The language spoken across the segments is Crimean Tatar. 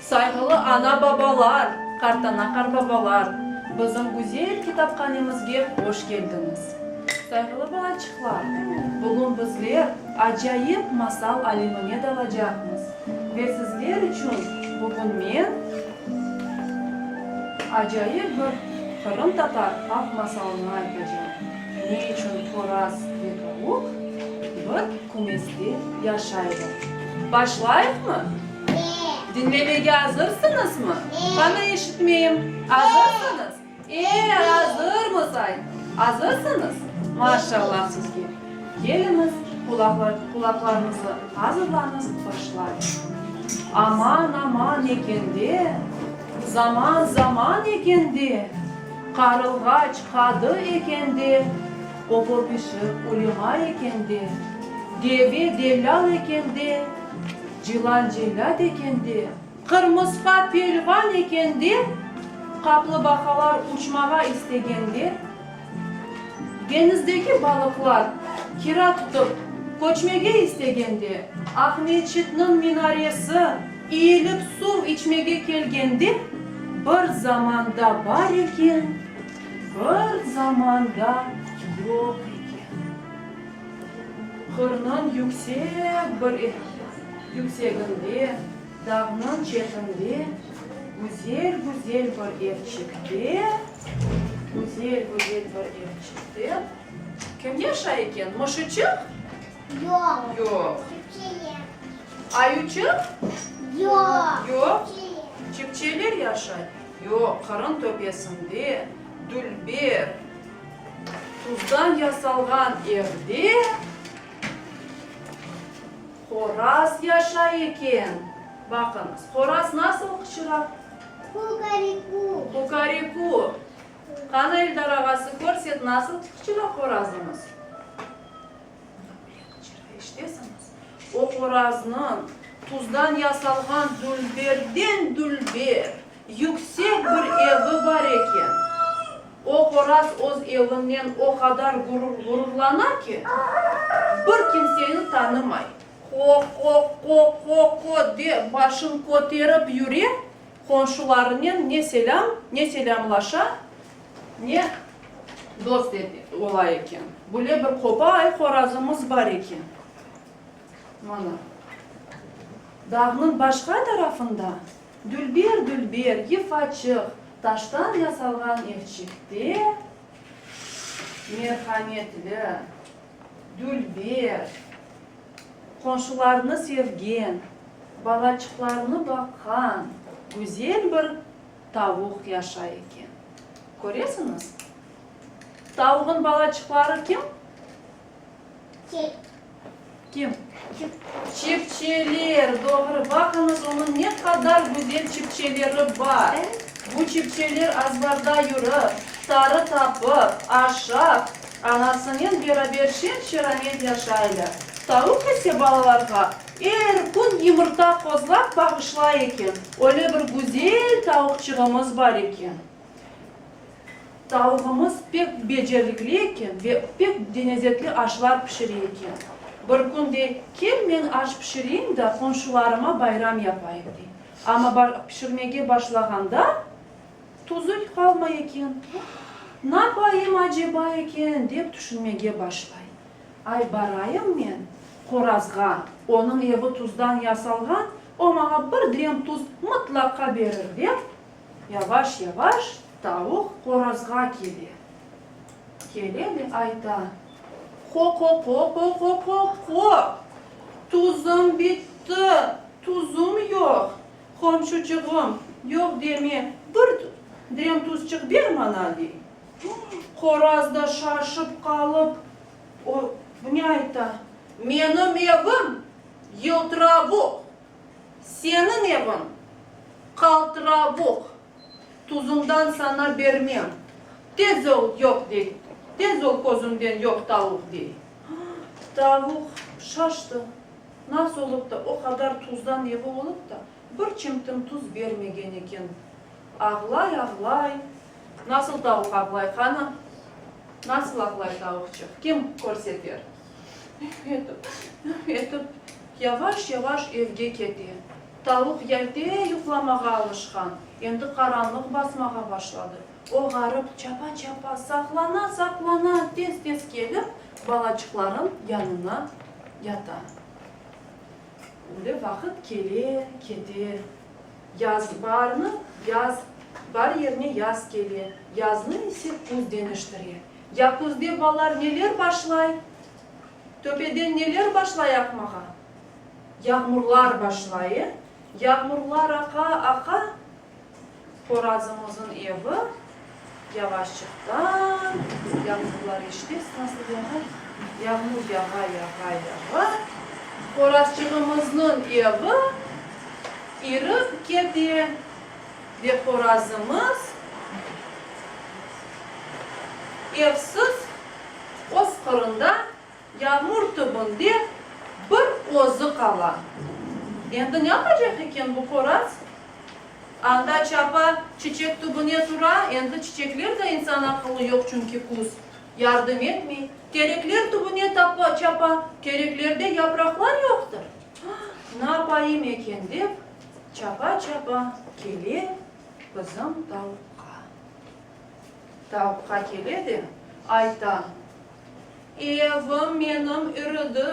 Sayğılı ana-babalar, qartana-qarbabalar, bizim güzel kitaphanemizge hoş keldiñiz. Sayğılı balaçıqlar, bugün bizler acayip masal alemine dalacaqmız ve sizler içün bugün men acayip bir qırımtatar halq masalını aytacam, Ne içün qoraz ve tavuq bir kümeste yaşaylar? Başlayıqmı? Diñlemege azırsıñızmı? Qanı eşitmeyim. Azırsıñız? E, azırmız, ay! Azırsıñız? Maşallah sizge! Keliñiz, qulaqlarıñızı azırlañız, başlayıq. Aman, aman eken de, zaman, zaman eken de, qarılğaç qadı eken de, opo-pişik ulema eken de, deve dellâl eken de, Cılan cellât eken de. Qırmısqa pelvan eken de. Qaplibaqalar uçmağa istegende, deñizdeki balıqlar kira tutıp köçmege istegende, Aqmescitniñ minaresi iyilip suv içmege kelgende, bir zamanda bar eken, bir zamanda yoq eken. Qırnıñ yüksek bir yükseginde, dağnıñ çetinde, güzel-güzel bir evçikte, güzel-güzel bir evçikte kim yaşay eken? Mışıçıq? Yoq. Yoq. Çipçeler. Ayuçıq? Yoq. Yoq. Çipçeler. Çipçeler yaşay? Yoq, qırın töpesinde dülber. Tuzdan yasalğan evde horaz yaşay eken. Baqıñız, horaz nasıl qıçıra? Kukariku. Kukariku. Qanı, Eldar ağası, körset, nasıl qıçıra horazıñız? Bundan böyle qıçıra, eşitesiñiz? O horaznıñ tuzdan yasalğan dülberden dülber. Yüksek bir evi bar eken. O qoraz öz evinnen o qadar ğururlana ki, bir kimseni tanımay. Qo-qo-qo-qo-qo de başın köterip yüre, qonşularınen ne selâm, ne selâmlaşa, ne dost ola eken. Bule bir qopay qorazımız bar eken. Mana, dağnıñ başqa tarafında. Dülber, dülber, yıfaçıq. Taştan yasalğan evçikte merhametli dülber qonşularını sevgen, balaçıqlarını baqqan güzel bir tavuq yaşay eken. Köresiñiz? Tavuğın balaçıqları kim? Kim? Çipçeler, doğru. Baqıñız, onıñ ne qadar güzel çipçeleri bar. Bu çipçeler azbarda yürip, tarı tapıp, aşap, anasınen beraber şen-şeramet yaşaylar. Tavuq ise balalarğa er kün yımırta qozlap bağışlay eken. Öyle bir güzel tavuqçığımız bar eken. Tavugımız pek becerikli eken ve pek denezetli aşlar pişire eken. Bir kün de, Kel, men aş pişireyim da, qomşularıma bayram yapayım, dey. Amma pişirmege başlağanda, tuzul qalmay eken. Napayım aceba eken, dep tüşünmege başlay. Ay, barayım men qorazğa, onıñ evi tuzdan yasalğan, o maña bir direm tuz mıtlaqa berir, dep Yavaş-yavaş tavuq qorazğa kele. Kele de ayta, Qo-qo-qo-qo-qo-qo-qo! Tuzım bitti, tuzım yoq! Qomşuçığım, yoq deme, bir drem tuzçıq ber maña, dey. Qoraz da şaşıp qalıp, o, ne ayta, Menim evim yıltıravuq! Seniñ eviñ, qaltıravuq, tuzundan sana bermem. Tez ol, yoq dey, tez ol közümden yoq tavuq dey. Tavuq şaştı, nasıl olıp da o qadar tuzdan evi olıp da, bir çimtim tuz bermegen eken. Ağlay, ağlay. Nasıl tavuq ağlay, qanı? Nasıl ağlay tavuqçıq, kim körseter? Üf etip, üf etip, yavaş-yavaş evge kete. Tavuq yalte yuqlamağa alışqan, endi qaranlıq basmağa başladı. O ğarip, çapa-çapa, saqlana-saqlana tez-tez kelip, balaçıqların yanına yata. Öyle vaqıt kele, kete. Yaz barnı, yaz, bar yerine yaz kele, yaznı ise küz deñiştire. Ya küzde ballar neler başlay? Töpeden neler başlay aqmağa? Yağmurlar başlay, e? Yağmurlar aqa, aqa, qorazımızın evi yavaşçıqtan, yağmurlar eşitesiz nasıl yağa, yağmur yağa, yağa, yağa, qorazçığımıznıñ evi irip kete. Ve qorazımız evsiz öz qırında, yağmur tübünde bir özü qala. Endi ne yapacaq eken bu qoraz? Anda çapa çiçek tübüne tura, endi çiçekler de insan aqılı yoq, çünki küz, yardım etmey. Terekler tübüne tapa, çapa, tereklerde yapraqlar yoqtır. Na yapayım eken dep. Çapa-çapa kele qızım tavuqqa. Tavuqqa kele de ayta, Evim menim ürüdi,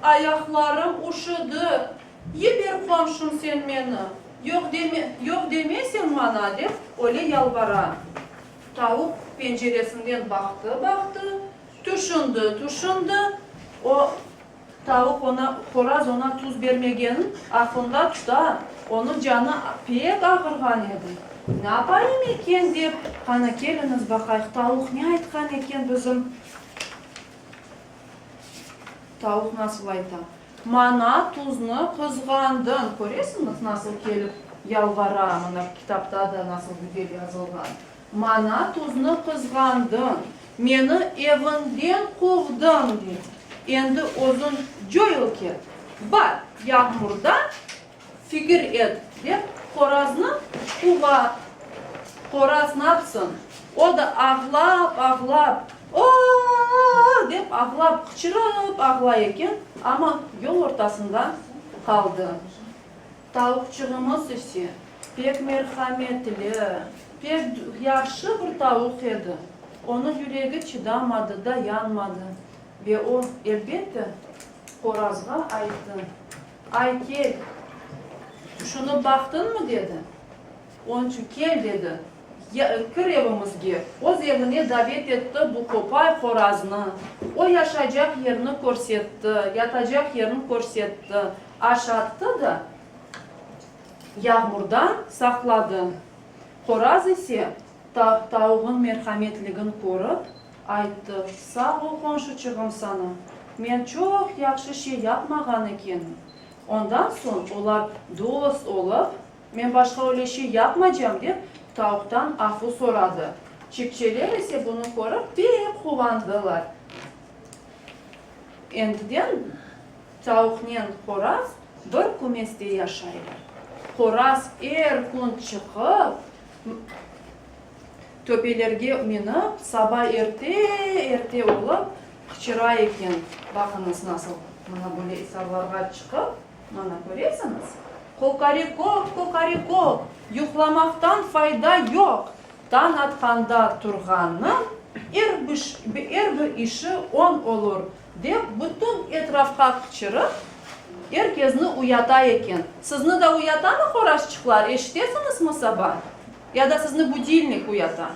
ayaqlarım üşüdi, yiber qomşum sen meni, yoq deme, yoq demeseñ maña, dep öyle yalvara. Tavuq penceresinden baqtı-baqtı, tüşündi-tüşündi, o, Tavuq oña, horaz oña tuz bermegen, aqlında tuta, onıñ canı pek ağırğan edi. Napayım eken dep, qanı keliñiz baqayıq, tavuq ne aytqan eken bizim? Tavuq nasıl ayta? Maña tuznı qızğandıñ. Köresiñiz, nasıl kelip yalvara, mına kitapta da nasıl güzel yazılğan. Maña tuznı qızğandıñ, meni eviñden quvdıñ, diñ. Endi özüñ coyıl ket, bar, yağmurda fikir et, dep qoraznı quva. Qoraz napsın, o da ağlap-ağlap, O-o-o-o-o! dep ağlap, qıçırıp ağlay eken, amma yol ortasında qaldı. Tavuqçığımız ise pek merhametli, pek yahşı bir tavuq edi. Onı yüregi çıdamadı da yanmadı ve o, elbette, qorazğa ayttı, Ay, kel, şunı baqtıñmı? dedi. Onçü kel, dedi, kir evimizge. Öz evine davet etti bu qopay qoraznı. O yaşaycaq yerini körsetti, yatacaq yerini körsetti, aş attı da, yağmurdan saqladı. Qoraz ise, tavuğın merhametligin körip, ayttı, Sağ ol, qonşuçığım, sana men çoq yahşı şey yapmağan ekenim. Ondan soñ olar dost olıp, Men başqa öyle şey yapmacam, dep, tavuqtan afu soradı. Çipçeler ise bunı körip pek quvandılar. Endiden tavuqnen qoraz bir kümeste yaşaylar. Qoraz er kün çıqıp, töpelerge minip, saba erte-erte olıp qıçıra eken. Baqıñız, nasıl, mına böyle isarlarğa çıqıp. Mana köresiñiz? Kokorikok, kokorikok, yuqlamaqtan fayda yoq! Tañ atqanda turğannıñ er er bir işi oñ olur, dep bütün etrafqa qıçırıp, er kezni uyata eken. Sizni da uyatamı qorazçıqlar, eşitesiñizmi saba? Ya da sizni budilnik uyata?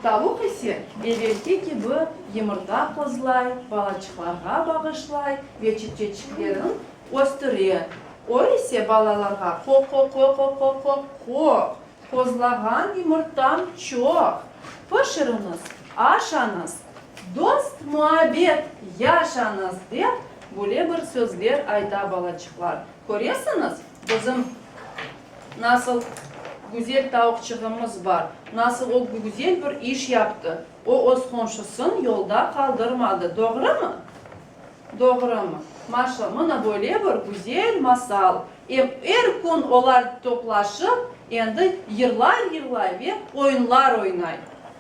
Tavuq ise evelki kibi yımırta qozlay, balaçıqlarğa bağışlay ve çipçeçiklerin östüre. O ise balalarğa qo-qo-qo-qo-qo-qo-qoq, qozlağan yımırtam çoq, pişiriñiz, aşañız, dost-muabbet yaşañız, dep, bule bir sözler ayta balaçıqlar. Köresiñiz, bizim nasıl güzel tavuqçığımız bar, nasıl o güzel bir iş yaptı, o öz qonşusın yolda qaldırmadı, doğrumı? Doğrumı? Maşa, mına böyle bir güzel masal, em er kün olar toplaşıp, endi yırlar yırlay ve oyunlar oynay.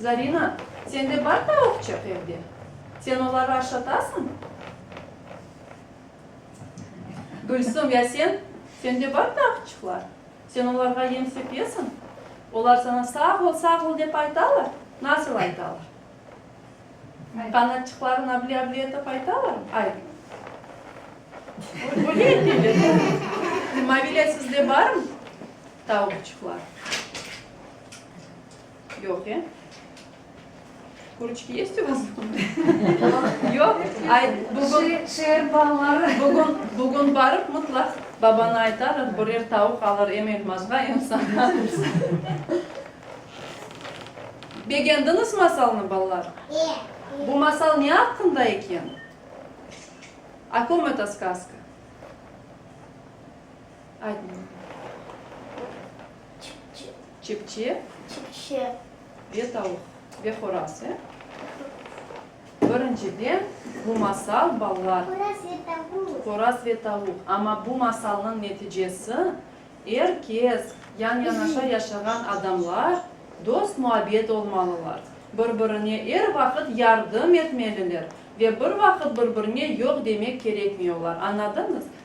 Zarina, sende bar tavuqçıq evde? Sen oları aşatasıñ? Gülsüm, ya sen? Sende bar tavuqçıqlar? Sen olarğa yem sepesiñ? Olar saña sağ ol, sağ ol dep aytalar? Nasıl aytalar? Qanatçıqların avli-avli etip aytalarmı? Ay. Böyle eteler. Mavile, sizde barmı tavuqçıqlar? Yoq, ya? Kurıçki yest u vas domadı? Yoq? Ay, bugün, şeer balları. Bugün, bugün barıp mıtlaq babana aytarıq, birer tavuq alır, em elmazğa, em saña. Begendiñiz masalnı, balalar? E. Bu masal ne aqqında eken? O kom eta skaska? Aytmay. Çipçe. Çipçe. Çipçe. Ve tavuq. Ve horaz, e? Birinciden, bu masal balalar. Horaz ve tavuq. Horaz ve tavuq. Amma bu masalnıñ neticesi, er kes, yan-yanaşa yaşağan adamlar dost-muabbet olmalılar, bir-birine er vaqıt yardım etmeliler ve bir vaqıt bir-birine yoq demek kerekmiyorlar. Añladınız?